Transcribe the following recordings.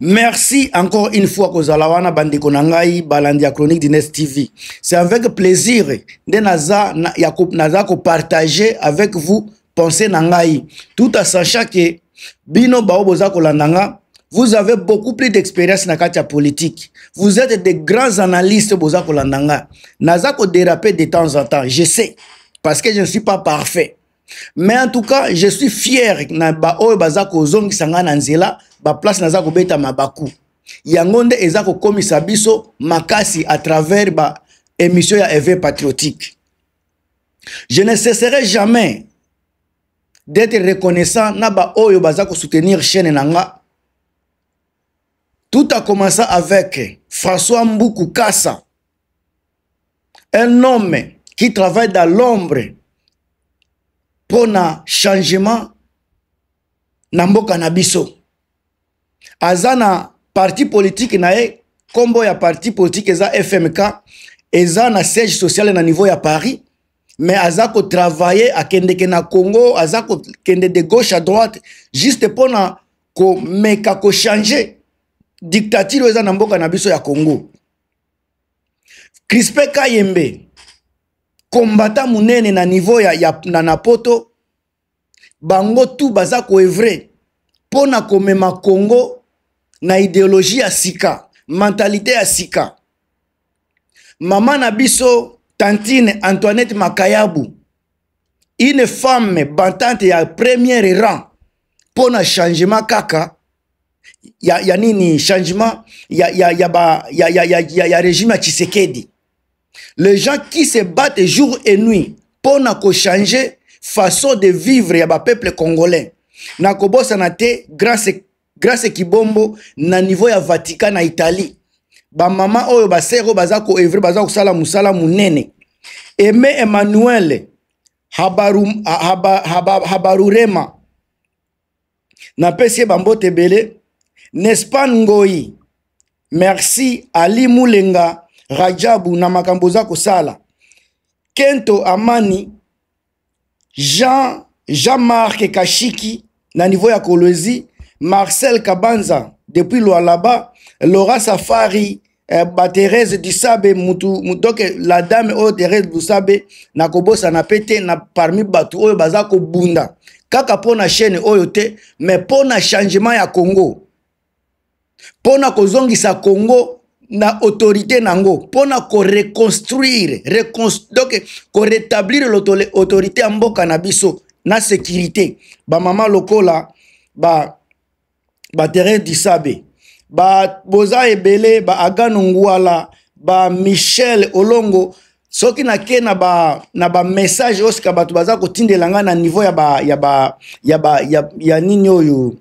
Merci encore une fois kozala wana bandeko na ngai balandi ya chronique du Nest TV. C'est avec plaisir nde naza na, ya ko, naza ko partager avec vous pensée na ngai tout en sachant que bino bao boza kolanda nga vous avez beaucoup plus d'expérience na kati ya politique. Vous êtes des grands analystes boza kolanda nga. Naza ko déraper de temps en temps, je sais parce que je ne suis pas parfait. mais en tout cas je suis fier na baoyo baza kozongisa ngai na nzela baplace naza kobeta mabaku yango nde eza kokomisa biso makasi à travers ba émission ya eve patriotique je ne cesserai jamais d'être reconnaissant na baoyo baza kosoutenir chaîne na nga tout a commença avec françois mbuku kasa un homme qui travaille dans l'ombre mpo na changement na mboka na biso aza na parti politike na ye nkombo ya parti politike eza fmk eza na siège social na niveau ya paris mais aza kotravaille akendeke na congo aza kokende de gauche à droite juste mpo na komeka kochange dictature oyo eza na mboka na biso ya congo Crispin Kayembe combattant munene na niveau ya, ya na, na poto bango tout baza koevre mpo na komema Congo na ideologie ya sika mentalite ya sika mama na biso tantine Antoinette Makayabu une femme bantante ya première rang mpo na changement kaka ya, ya nini changement ya, ya, ya, ba, ya, ya, ya, ya, ya régime ya tshisekedi les gens qui se battent jour et nuit mpo na kochanger façon de vivre ya bapeuple congolais na kobosana te grace, grace kibombo na niveau ya vatican na italie bamama oyo basere oyo baza koevre baza kosala mosala monene aime emmanuel habarurema habaru, haba, haba, napesi ye bambote ebele nespan ngoi merci ali mulenga rajabu na makambo oza kosala kento amani jean jean marc kashiki na niveau ya kolwezi marcel kabanza depuis lualaba laura safari eh, ba Therese Dusabe mutu donc la dame oyo Therese Dusabe na kobosana pe te na parmi bato oyo baza kobunda kaka mpo na chaîne oyo te mais mpo na changement ya Congo mpo na kozongisa Congo na autorité nango mpo na koreconstruire reconstru donc koretablir autorité ya mboka na biso na sécurité bamama lokola ba baterrain disabe ba, boza ebele ba agano ngwala ba michel olongo soki nake na ba na ba message oyo sika bato baza kotindela ngai na niveau ya ba ya ba ya ba ya, ya nini oyo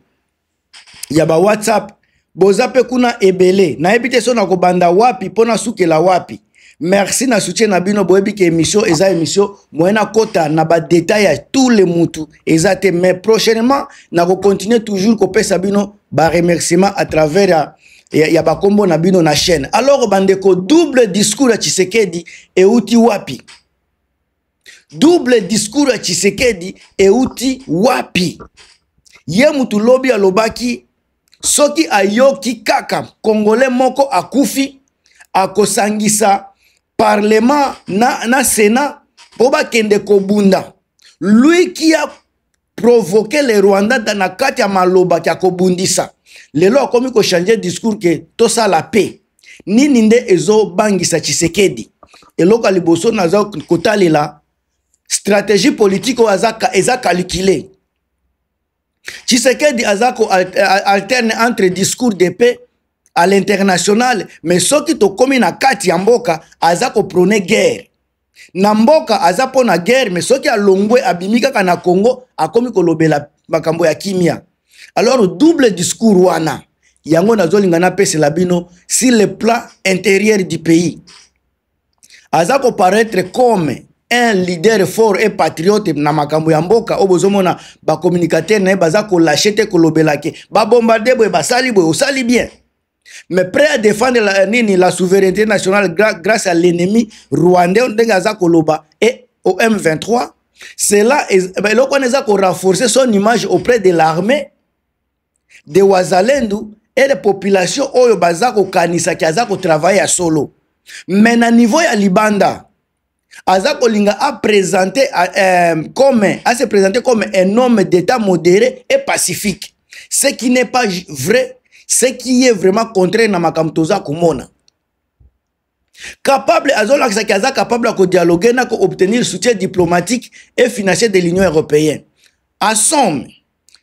ya ba whatsapp boza mpe kuna ebele nayebi te so nakobanda wapi mpo nasukela wapi merci na soutien na bino boyebi ke émission eza émission moyen nakota na badetail ya tout le mutu eza te mais prochainement nakocontinue toujours kopesa bino baremerciement à travers ya, ya, ya bakombo na bino na chaîne alors bandeko double discours ya tshisekedi euti wapi double discours ya tshisekedi euti wapi ye mutu lobi alobaki soki ayoki kaka congolais moko akufi akosangisa parlement na, na senat mpo bakende kobunda lui qui a provoqué le rwanda na kati ya maloba kya kobundisa lelo akomi kochange discours ke tosala paix nini nde ezobangisa tshisekedi eloko ya liboso naza kotalela stratégie politique oyo eza calcule tshisekedi aza ko alterne entre discours de paix à l'international mais soki tokomi na kati ya mboka aza koprone guerre na mboka aza mpo na guerre mais soki alongwe abimi kaka na congo akomi kolobela makambo ya kimia alors double discours wana yango nazolinga napesela bino sur le plan intérieur du pays aza koparaître comme un leader fort et patriote na makambo ya mboka oyo bozomona bacommunicateur na ye baza kolashe te kolobela ke babombarde boye basali boye osali bien mais prêt à défendre la, euh, nini la souveraineté nationale gra, grâce à l'ennemi rwandais ndenge aza koloba et au m23 cela eloko wana eza korenforcer son image auprès de l'armée de wazalendu ele population oyo baza kokanisa ki aza kotravaille ya solo me na niveau ya libanda aza kolinga apresente euh, comme ase présente comme un homme d'état modéré et pacifique ce qui n'est pas vrai ce qui est vraiment contraire na makambo toza komona capable azolakisa ke aza capable ya kodialogue na koobtenir soutien diplomatique et financier de l'union européenne asome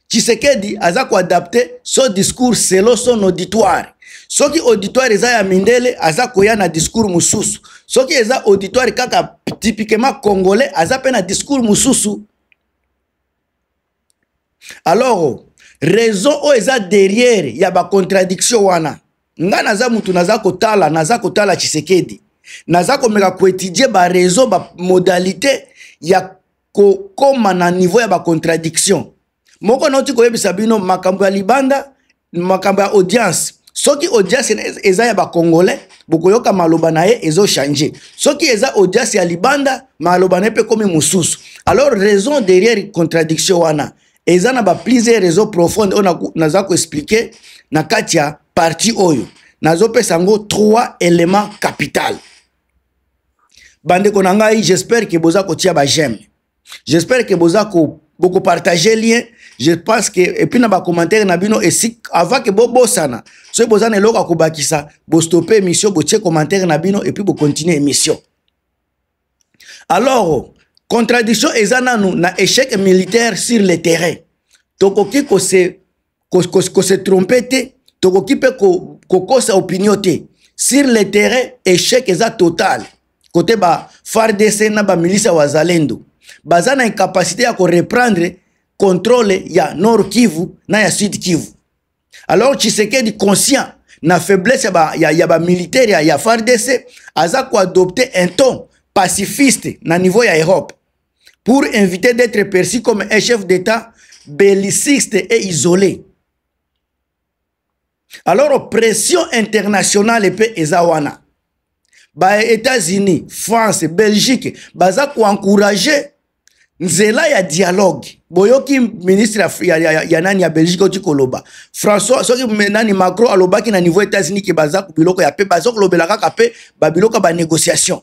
tshisekedi aza koadapte so discours selo son auditoire soki auditoire eza ya mindele aza koya na discours mosusu soki eza auditoire kaka typiquement congolais aza mpe na discours mosusu alors raison oyo eza derrière ya bacontradiction wana ngai naza mutu naza kotala naza kotala tshisekedi naza komeka koetudie baraison bamodalité ya kokoma na niveau ya bacontradiction moko nauti koyebisa bino makambo ya libanda makambo ya audience soki audience eza ya bacongolais bokoyoka maloba na ye ezochange soki eza audience ya libanda maloba na ye mpe ekomi mosusu alors raison derrière contradiction wana eza na baplusier raison profonde oyo naza koexplike na kati ya parti oyo nazopesa yango trois éléments capital bandeko na ngai j'espère ke boza kotia bajeme j'espère que boza ko boko partager lien je pense que et puis na ba commentaire na bino et si avant que bo bosana so boza na eloko ko bakisa bo stopper émission bo tie commentaire na bino et puis bo continuer émission alors contradiction eza nanu na échec militaire sur le terrain tokoki ko se ko, ko, ko se tromper te tokoki mpe kokosa ko opinion te sur le terrain échec eza total kote ba fardc na bamilisi ya wazalendo baza na incapacité ya koreprendre contrôle ya nord kivu na ya sud kivu alors tshisekedi conscient na faiblesse ya bamilitaire ya, ya, ya fardc aza koadopte un ton pacifiste na niveau ya europe pour éviter d'être perçu comme un chef d'État belliciste et isolé. Alors, pression internationale et puis Ezawana. Bah, États-Unis, France, Belgique, baza ko encourager nzela ya dialogue boyoki ministre ya, ya, ya, ya nani ya belgique oti koloba françois soki nani macron alobaki na niveau états-unis ke baza biloko ya pe baza kolobela kaka pe babiloko ya banégociation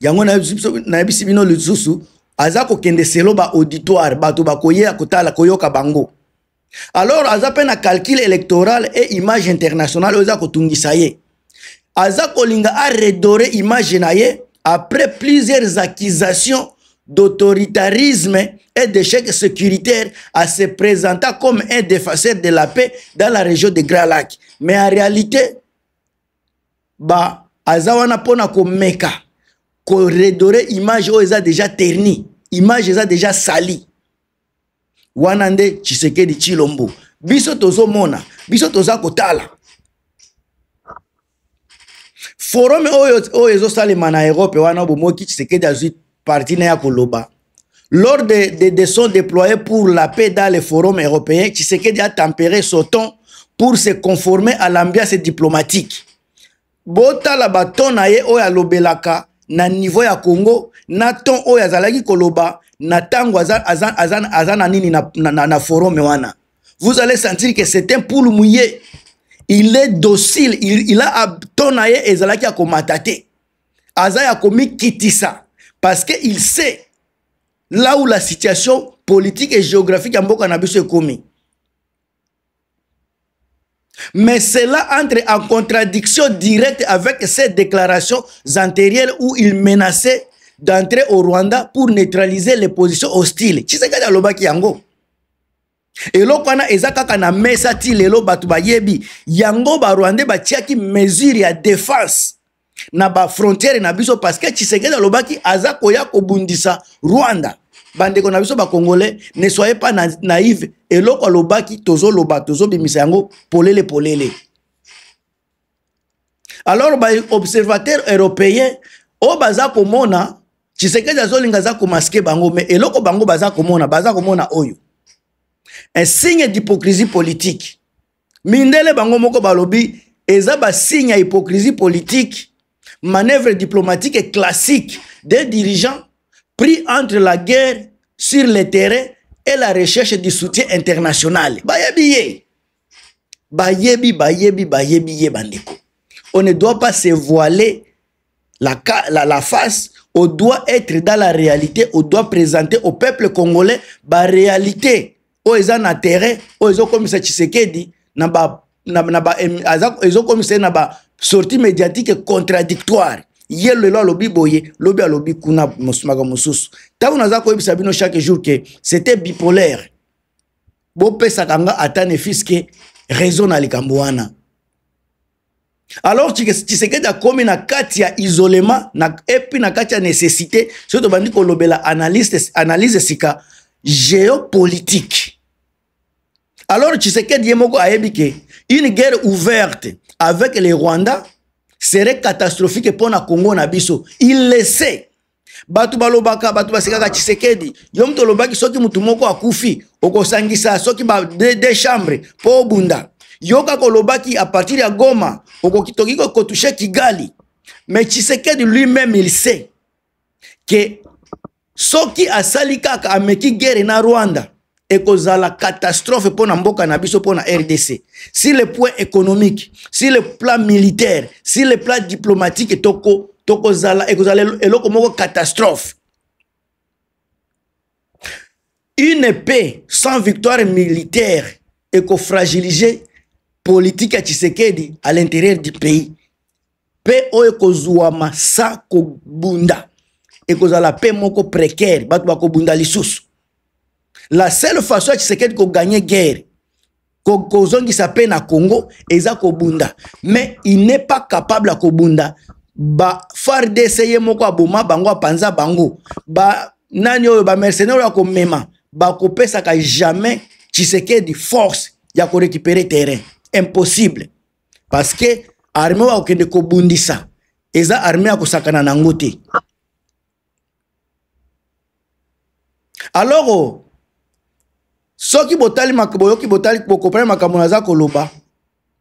yango nayebisi bino lisusu aza kokende selo baauditoire bato bakoyeya kotala koyoka bango alors aza mpe na calcul électoral e image internationale oyo eza kotungisa ye aza kolinga aredore image na ye après plusieurs accusations d'autoritarisme et d'échec sécuritaire à se présenter comme un défenseur de la paix dans la région de Grand Lac. Mais en réalité, ba aza wana mpona komeka koredore image oyo eza deja terni image eza deja sali wana nde tshisekedi tshilombo biso tozomona biso toza kotala forum oyo oyo ezosalema na europe wana bomoki tshisekedi azwi parti na ya koloba Lors des de, de sons déployés pour la paix dans les forums européens, Tshisekedi a tempéré son ton pour se conformer à l'ambiance diplomatique. Bota la baton na ye oyo alobelaka na niveau ya Congo na ton oyo azalaki koloba na tango aza, aza, aza, aza na nini na, na, na, na forum wana. Vous allez sentir que c'est un poule mouillé. Il est docile, il, il a ton na ye ezalaki ya komata te. aza ya komikitisa parce que il sait là où la situation politique et géographique ya mboka na biso ekomi mais cela entre en contradiction directe avec ses déclarations antérieures où il menaçait d'entrer au Rwanda pour neutraliser les positions hostiles. Tshisekedi alobaki yango. eloko wana eza kaka na mesa ti lelo bato bayebi yango barwandais batiaki mesure ya defense na bafrontiere na biso parce que tshisekedi alobaki aza koya kobundisa rwanda bandeko na biso bacongolais ne soye pas na, naive eloko alobaki tozoloba tozobimisa yango polele polele alors baobservateur européen oyo baza komona tshisekedi azolinga aza komaske bango me eloko bango baza komona baza komona oyo un signe d'hypocrisie politique mindele bango moko balobi eza basigne ya hypocrisie politique manœuvre diplomatique et classique des dirigeants pris entre la guerre sur le terrain et la recherche du soutien international bayebi ye bayebi bayebi bayebi ye bandeko on ne doit pas se voiler la, la, la face on doit être dans la réalité on doit présenter au peuple congolais baréalité oyo eza na terrain oyo ezokomisa tshisekedi na ba, na, na ba, ezokomisa ye na basortie médiatique contradictoire ye lelo alobi boye lobi alobi kuna makambo mosusu ntango naza koyebisa bino chaque jour ke c'était bipolaire bopesaka nga ata ne fiske raison na likambo wana alors tshisekedi akomi na kati ya isolement na, epuis na kati ya nécessité soki tobandi kolobela analyse, analyse sika géopolitique alors tshisekedi ye moko ayebi ke une guerre ouverte avec le rwanda serait catastrophique mpo na congo na biso il le sait bato balobaka bato basekaka tshisekedi yo moto olobaki soki motu moko akufi okosangisa soki ba de, de chambre mpo obunda yoka kolobaki a partir ya goma okokitoki kokotushe kigali mais tshisekedi lui-même il sait ke soki asali kaka ameki guerre na rwanda ekozala catastrophe mpo na mboka na biso mpo na rdc si le point économique si le plan militaire si le plan diplomatique toko tokozala ekozala eloko moko catastrophe une épée sans victoire militaire ekofragilise politique ya tshisekedi à l'intérieur du pays mpe oyo ekozwama sa kobunda ekozala mpe moko précaire bato bakobunda lisusu la seule façon ya tshisekedi koganye guerre kozongisa mpe na congo eza kobunda mais il n'est pas capable ya kobunda ba fardc ye moko aboma bango apanza bango ba nani oyo bamercenaire oyo akomema bakopesaka jamais tshisekedi force ya korécupere terrain impossible parce que armée wa okende ko bundisa eza armée ya kosakana na ngo te alors soki botali boyoki botali bokopani makambo naza koloba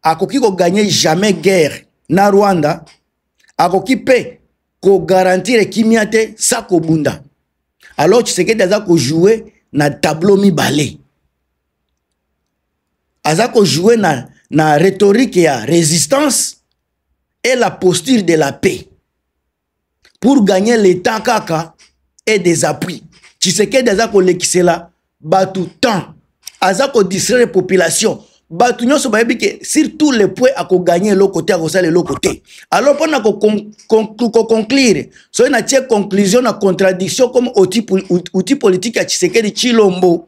akoki koganye jamais guerre na rwanda akoki mpe kogarantire kimia te sa kobunda alors tshisekedi aza kojoue na tableau mibale aza ko jouer na na rhétorique ya résistance et la posture de la paix pour gagner l'état kaka et des appuis tshisekedi aza kolekisela bato temps aza kodistraire population bato nyonso bayebi ke surtout le point akoganye eloko te akosala eloko te alors mpona koconclure soki natie conclusion na contradiction comme outil politique ya tshisekedi tshilombo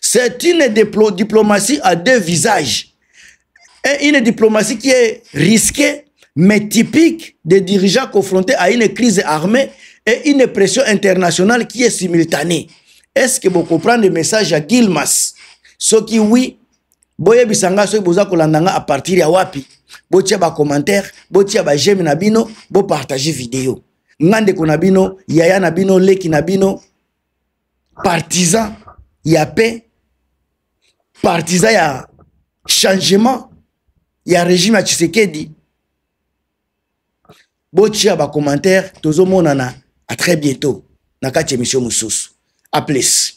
C'est une diplomatie à deux visages. Et une diplomatie qui est risquée, mais typique des dirigeants confrontés à une crise armée et une pression internationale qui est simultanée. Est-ce que vous comprenez le message à Gilmas Ce qui oui, boyebisa nga soki boza kolanda nga à partir ya wapi botia bacommentaire botia bajeme na bino bopartage video nga ndeko na bino yaya na bino leki na bino partisan ya paix partisan ya changement ya régime ya tshisekedi botia bacommentaire tozomonana a très bientôt na kati émission mosusu a plus